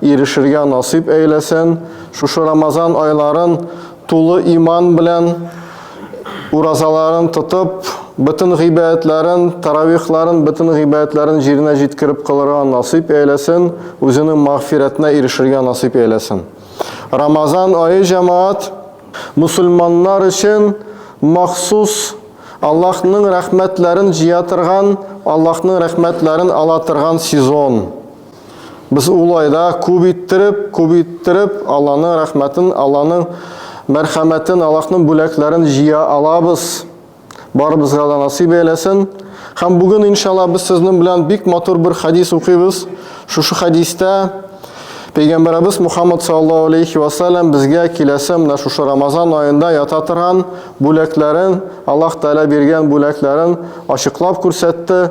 Ирешергә насыйп әйләсен, шушы Рамазан айларын тулы иман белән уразаларын тотып, бөтен гыйбәятләрен, таравихларын, бөтен гыйбәятләрен җиренә җиткереп кылырга насыйп әйләсен, үзенең магфирәтенә ирешергә насыйп әйләсен. Рамазан айы җәмаат мусульманнар өчен махсус Аллаһның рәхмәтләрен җыя торган, Аллаһның рәхмәтләрен ала торган сезон. Без улай да күп иттереп, күп иттереп Алланың рәхмәтен, Алланың мәрхәмәтен, Аллаһның бүләкләрен җыя алабыз. Барыбызга да насыйп әйләсен. Һәм бүген иншалла без сезнең белән бик матур бер хадис укыйбыз. Шушы хадистә Пәйгамбәребез Мухаммад саллаллаһу алейхи ва саллям безгә киләсе менә шушы Рамазан аенда ята торган бүләкләрен, Аллаһ Тәгалә биргән бүләкләрен ачыклап күрсәтте.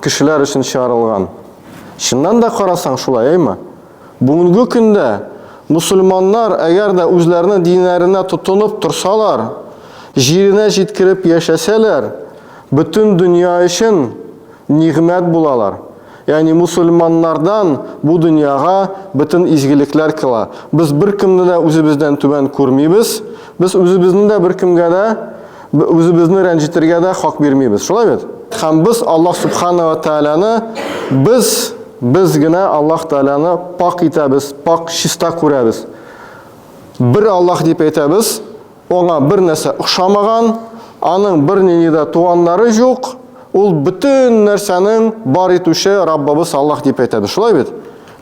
Кешеләр өчен чыгарылган. Чыннан да карасаң шулай, әйме? Бүгенге көндә мусульманнар, әгәр дә үзләренең диннәренә тотынып торсалар, җиренә җиткереп яшәсәләр, бөтен дөнья өчен нигъмәт булалар. Ягъни мусульманнардан бу дөньяга бөтен изгелекләр кила. Без беркемне дә үзебездән түбән күрмибез, без үзебезне дә беркемгә дә Үзебезне рәнҗетергә дә хак бирмибез. Шулай бит? Һәм без Аллаһ субхана ва тааляны без без генә Аллаһ тааляны пак итәбез, пак чиста күрәбез. Бер Аллаһ дип әйтәбез, аңа бер нәрсә охшамаган, аның бернинди дә туганнары юк, ул бөтен нәрсәнең бар итүче Раббыбыз Аллаһ дип әйтәбез. Шулай бит?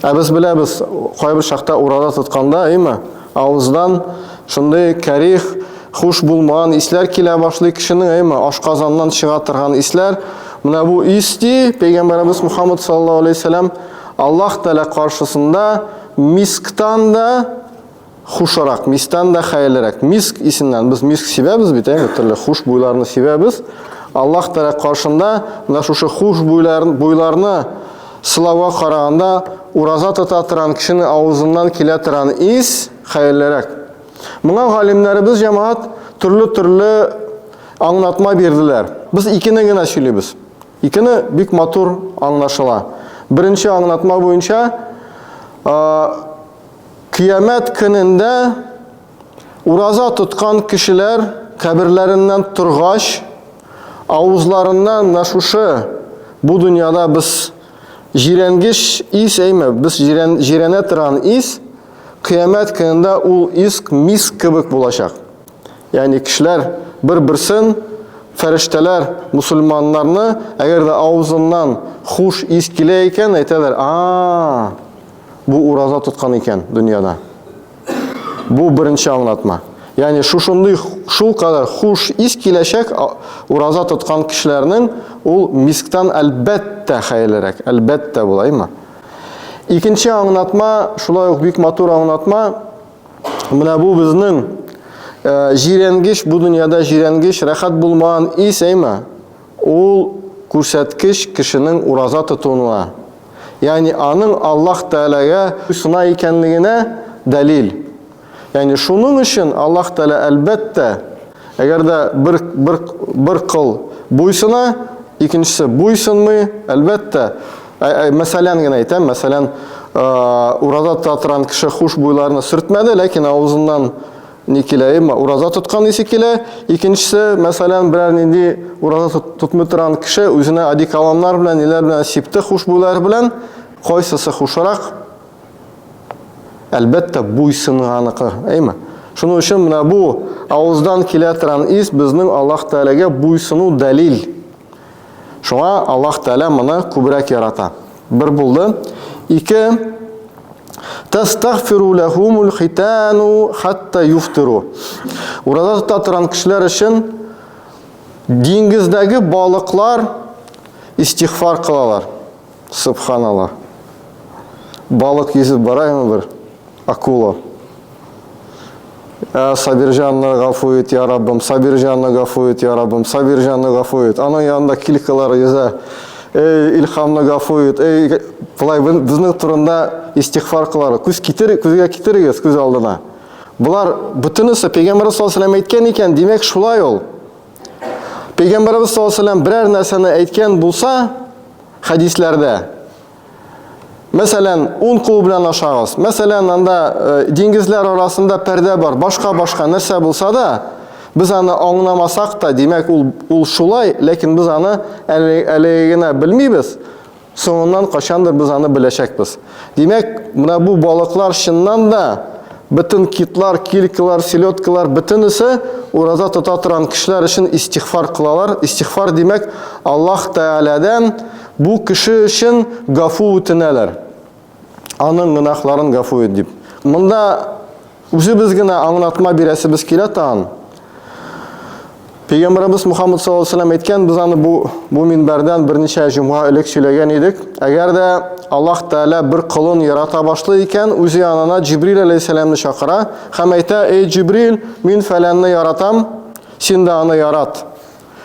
Ә без беләбез, кайбер чакта урада тотканда, әйме, авыздан шундый кәрих, хуш булмаган исләр килә башлый кешенең, әйме, ашказаннан чыга торган исләр. Менә бу ис ди, пәйгамбәребез Мухаммад саллаллаһу алейһи ва саллям Аллаһ Тәгалә каршысында мисктан да хушырак мистан да хәерлерәк. Миск исеннән без миск сибәбез бит, әйе, төрле хуш буйларны сибәбез. Аллаһ Тәгалә каршында менә шушы хуш буйларны, буйларны сылауга караганда ураза тота торган кешене авызыннан килә торган ис хәерлерәк. Моңа галимнәребез җәмәгать төрле-төрле аңлатма бирделәр. Без икене генә сөйлибез. Икене бик матур аңлашыла. Беренче аңлатма буенча, Кыямәт көнендә ураза тоткан кешеләр каберләреннән торгач, авызларыннан менә шушы бу дөньяда без җирәнгеч ис әйме, без җирән, җирәнә торган ис, кыямәт көнендә ул ис миск кебек булачак. Ягъни кешеләр бер-берсен фәрештәләр мусульманнарны, әгәр дә авызыннан хуш ис килә икән, әйтәләр, а, бу ураза тоткан икән дөньяда. Бу беренче аңлатма. Ягъни шушындый шул кадәр хуш ис киләчәк ураза тоткан кешеләрнең ул мисктан әлбәттә хәерлерәк, әлбәттә булаймы? Икенче аңлатма, шулай ук бик матур аңлатма. Менә бу безнең җиренгеч, бу дөньяда җиренгеч, рәхәт булмаган ис, әйме? Ул күрсәткеч кешенең ураза тотуына, ягъни аның Аллаһ Тәгаләгә сына икәнлегенә дәлил. Ягъни шуның өчен Аллаһ Тәгалә, әлбәттә, әгәр дә бер бер бер кол буйсына, икенчесе буйсынмый, әлбәттә, мәсәлән генә әйтәм, мәсәлән, ураза тота торган кеше хушбуйларны сөртмәде, ләкин авызыннан Ни килә, әмма ураза тоткан исе килә. Икенчесе, мәсәлән, берәр нинди ураза тотмый торган кеше үзенә одеколоннар белән, ниләр белән сипте, хушбуйлар белән, кайсысы хушрак? Әлбәттә, буйсынганыкы, әйме? Шуның өчен менә бу авыздан килә торган ис безнең Аллаһ Тәгаләгә буйсыну дәлил. Шуңа Аллаһ Тәгалә моны күбрәк ярата. Бер булды. Ике. Тастагфиру лахумул хитану хатта юфтиру. Ураза тота торган кешеләр өчен диңгездәге балыклар истигъфар кылалар. Субханала. Балык йөзеп бара ме бер? Акула. Ә Сабирҗанны гафу ит, я Раббым, Сабирҗанны гафу ит, я Раббым, Сабирҗанны гафу ит. Аның янында килкалар йөзә. Эй, Илхамны гафу ит. Эй, былай безнең турында истигъфар кылар. Күз китер, күзгә китерегез күз алдына. Болар бүтенесе пәйгамбәр саллаллаһу әйткен икән, димәк шулай ул. Пәйгамбарыбыз саллаллаһу алейһи вәсәлләм берәр нәрсәне әйткән булса, хәдисләрдә, мәсәлән, ун кул белән ашагыз, мәсәлән, анда э, диңгезләр арасында пәрдә бар, башка-башка нәрсә булса да, без аны аңламасак та, димәк, ул, ул шулай, ләкин без аны әле, әле генә белмибез, Соңыннан кайчандыр без аны беләчәкбез. Димәк, менә бу балыклар чыннан да бөтен китлар, килькалар, селедкалар бөтенесе ураза тота торган кешеләр өчен истигъфар кылалар. Истигъфар димәк, Аллаһ Тәгаләдән бу кеше өчен гафу үтенәләр. Аның гөнаһларын гафу ит, дип. Монда үзебез генә аңлатма бирәсебез килә тагын. Пәйгамбәрбез Мухаммад саллаллаһу алейһи ва сәлләм әйткән, без аны бу бу минбәрдән берничә җомга элек сөйләгән идек. Әгәр дә Аллаһ Тәгалә бер колын ярата башлый икән, үзе янына Җибрил алейһиссәламны чакыра һәм әйтә: "Эй Җибрил, мин фәләнне яратам, син дә аны ярат".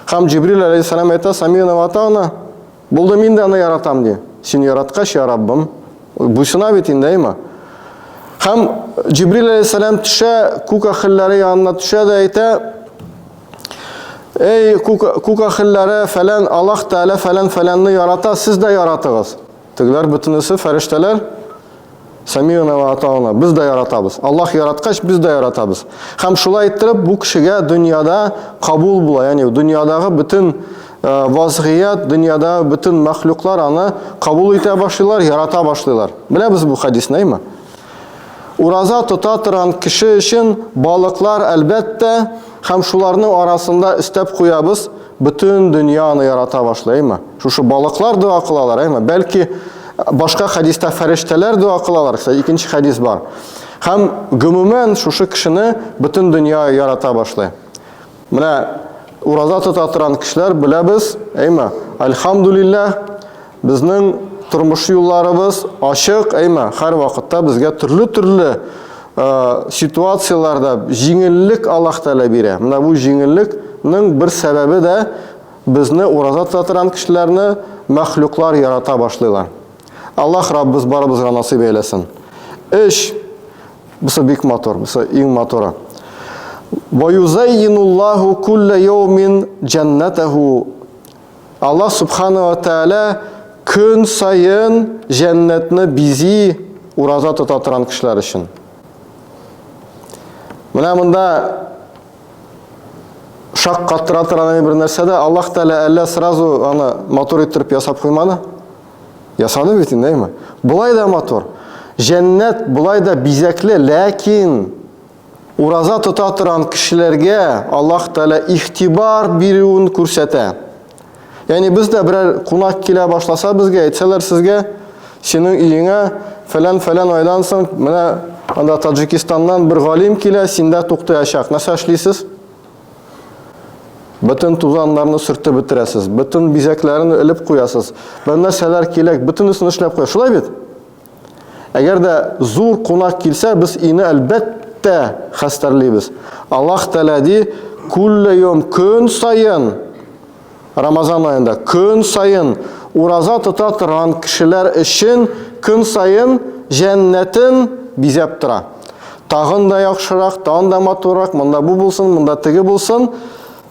Һәм Җибрил алейһиссәлам әйтә: "Самина ва атана". Булды, мин дә аны яратам, ди. Син яраткач, я Раббым, буйсына бит инде, әйма. Һәм Җибрил әлейһиссәлам төшә, күк ахилләре янына төшә дә әйтә, Эй, күк, күк ахилләре, фәлән Аллаһ Тәгалә фәлән фәләнне ярата, сез дә яратыгыз. Тегеләр бөтенесе фәрештәләр, Самионова атауны без дә яратабыз. Аллаһ яраткач, без дә яратабыз. Һәм шулай иттереп бу кешегә дөньяда кабул була, ягъни дөньядагы бөтен э, вазгыят, дөньяда бөтен мәхлуклар аны кабул итә башлыйлар, ярата башлыйлар. Беләбез бу хадисны, әйме? Ураза тота торган кеше өчен балыклар әлбәттә Һәм шуларның арасында өстәп куябыз, бөтен дөнья аны ярата башлый, әйме? Шушы балыклар дога кылалар, әйме? Бәлки башка хәдистә фәрештәләр дога кылалар, кстати, икенче хәдис бар. Һәм гомумән шушы кешене бөтен дөнья ярата башлый. Менә ураза тота торган кешеләр беләбез, әйме? Альхамдулиллаһ, Безнең тормыш юлларыбыз ачык, әйма, хәр вакытта безгә төрле-төрле ситуацияләрдә җиңеллек Аллаһ Тәгалә бирә. Менә бу җиңеллекнең бер сәбәбе дә безне ураза тота торган кешеләрне мәхлуклар ярата башлыйлар. Аллаһ Раббыз барыбызга насыйп әйләсен. Эш бусы бик матур, бусы иң матуры. Ваюзаййинуллаху кулла яумин джаннатаху Аллаһ Субхана ва Тәгалә көн саен җәннәтне бизи ураза тота торган кешеләр өчен. Менә монда шак каттыра торган бер нәрсә дә Аллаһ Тәгалә әллә сразу аны матур иттереп ясап куймады. Ясады бит инде, әйме? Болай да матур. Җәннәт болай да бизәкле, ләкин Ураза тота торган кешеләргә Аллаһ Тәгалә ихтибар бирүен күрсәтә. Ягъни без дә берәр кунак килә башласа безгә, әйтсәләр сезгә, синең өеңә фәлән-фәлән айдан соң менә анда Таджикистаннан бер галим килә, синдә туктаячак. Нәрсә эшлисез? Бөтен тузаннарны сөртеп бетерәсез, бөтен бизәкләрен элеп куясыз. Бер нәрсәләр кирәк, бөтенесен эшләп куя. Шулай бит? Әгәр дә зур кунак килсә, без өйне әлбәттә хәстәрлибез. Аллаһ Тәгалә ди, "Күлле йом көн саен Рамазан аенда көн саен ураза тота торган кешеләр өчен көн саен җәннәтен бизәп тора. Тагын да яхшырак, тагын да матуррак, монда бу булсын, монда теге булсын.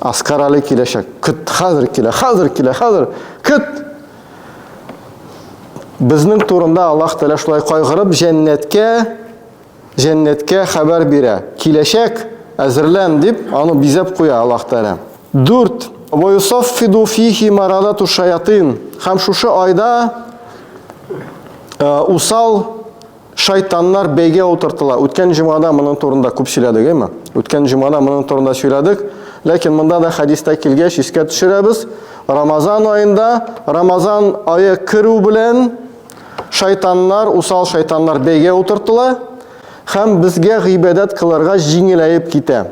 Аскар Али киләчәк. Көт, хәзер килә, хәзер килә, хәзер. Көт! Безнең турында Аллаһ Тәгалә шулай кайгырып, җәннәткә җәннәткә хәбәр бирә. Киләчәк, әзерлән дип, аны бизәп куя Аллаһ Тәгалә. 4. Ва юсаффиду фихи марадату шаятин. Хәм шушы айда э, усал Шайтаннар бәйгә утыртыла. Үткән җомгада моның турында күп сөйләдек, әйме? Үткән җомгада моның турында сөйләдек. Ләкин монда да хәдистә килгәч искә төшерәбез. Рамазан аенда, Рамазан ае керү белән шайтаннар, усал шайтаннар бәйгә утыртыла һәм безгә гыйбадәт кылырга җиңеләеп китә.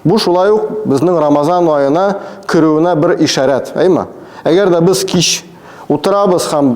Бу шулай ук безнең Рамазан аена керүенә бер ишарәт, әйме? Әгәр дә без кич утырабыз һәм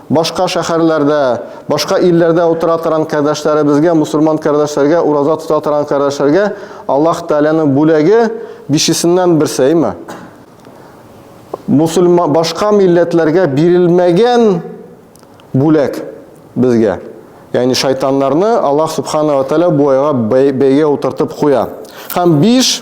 Башка шәхәрләрдә, башка илләрдә утыра торган кардәшләребезгә, мусульман кардәшләргә, ураза тота торган кардәшләргә Аллаһ Тәгаләнең бүләге бишесеннән берсе, әйме? Мусульман башка милләтләргә бирелмәгән бүләк безгә. Ягъни шайтаннарны Аллаһ Субхана ва Тәгалә бу айга бәйгә утыртып куя. Һәм биш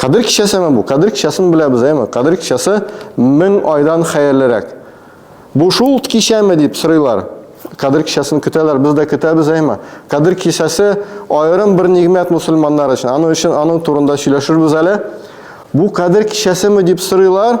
Кадер кичәсе әмә бу. Кадер кичәсен беләбез, әйме? Кадер кичәсе мең айдан хәерлерәк. Бу шул кичәме дип сорыйлар. Кадер кичәсен көтәләр, без дә көтәбез, әйме? Кадер кичәсе аерым бер нигмәт мусульманнар өчен. Аның өчен аның турында сөйләшербез әле. Бу кадер кичәсеме дип сорыйлар.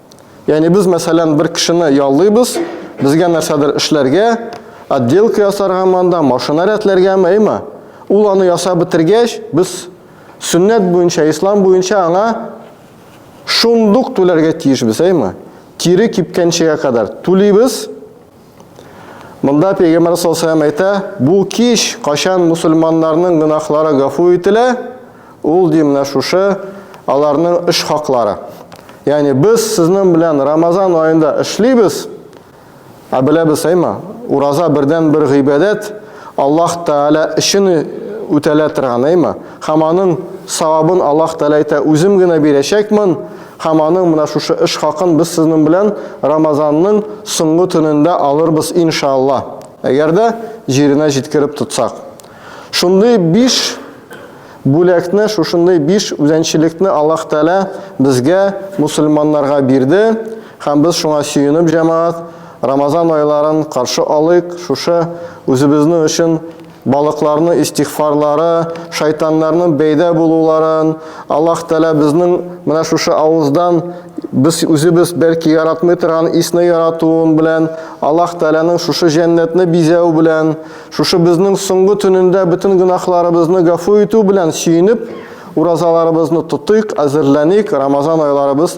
Яни без мәсәлән бер кешене яллыйбыз, безгә нәрсәдер эшләргә, отделка ясарга монда, машина рәтләргә мәйме. Ул аны ясап бетергәч, без сөннәт буенча, ислам буенча аңа шундук түләргә тиешбез, әйме? Тире кипкәнчегә кадәр түлибез, Монда Пәйгамбәр саллаллаху әйтә, бу кич качан мусульманнарның гынахлары гафу ителә, ул ди менә шушы аларның эш хаклары. Ягъни без сезнең белән Рамазан аенда эшлибез, ә беләбез әйма, ураза бердән бер гыйбадәт Аллаһ Тәгалә өчен үтәлә торган әйма. Һәм аның савабын Аллаһ Тәгалә әйтә, үзем генә бирәчәкмен, Һәм аның менә шушы эш хакын без сезнең белән Рамазанның соңгы төнендә алырбыз иншаалла, әгәр дә җиренә җиткереп тотсак. Шундый биш бүләкне, шушындый биш үзәнчелекне Аллаһ Тәгалә безгә, мусульманнарга бирде, һәм без шуңа сөенеп, җәмәгать, Рамазан айларын каршы алыйк, шушы үзебезнең өчен Балыкларның истигъфарлары, шайтаннарның бәйдә булуларын Аллаһ Тәгалә безнең менә шушы авыздан без үзебез бәлки яратмый торган исне яратуын белән, Аллаһ Тәгаләнең шушы җәннәтне бизәү белән, шушы безнең соңгы төнендә бөтен гөнаһларыбызны гафу итү белән сөенеп, уразаларыбызны тотыйк, әзерләник, Рамазан айларыбыз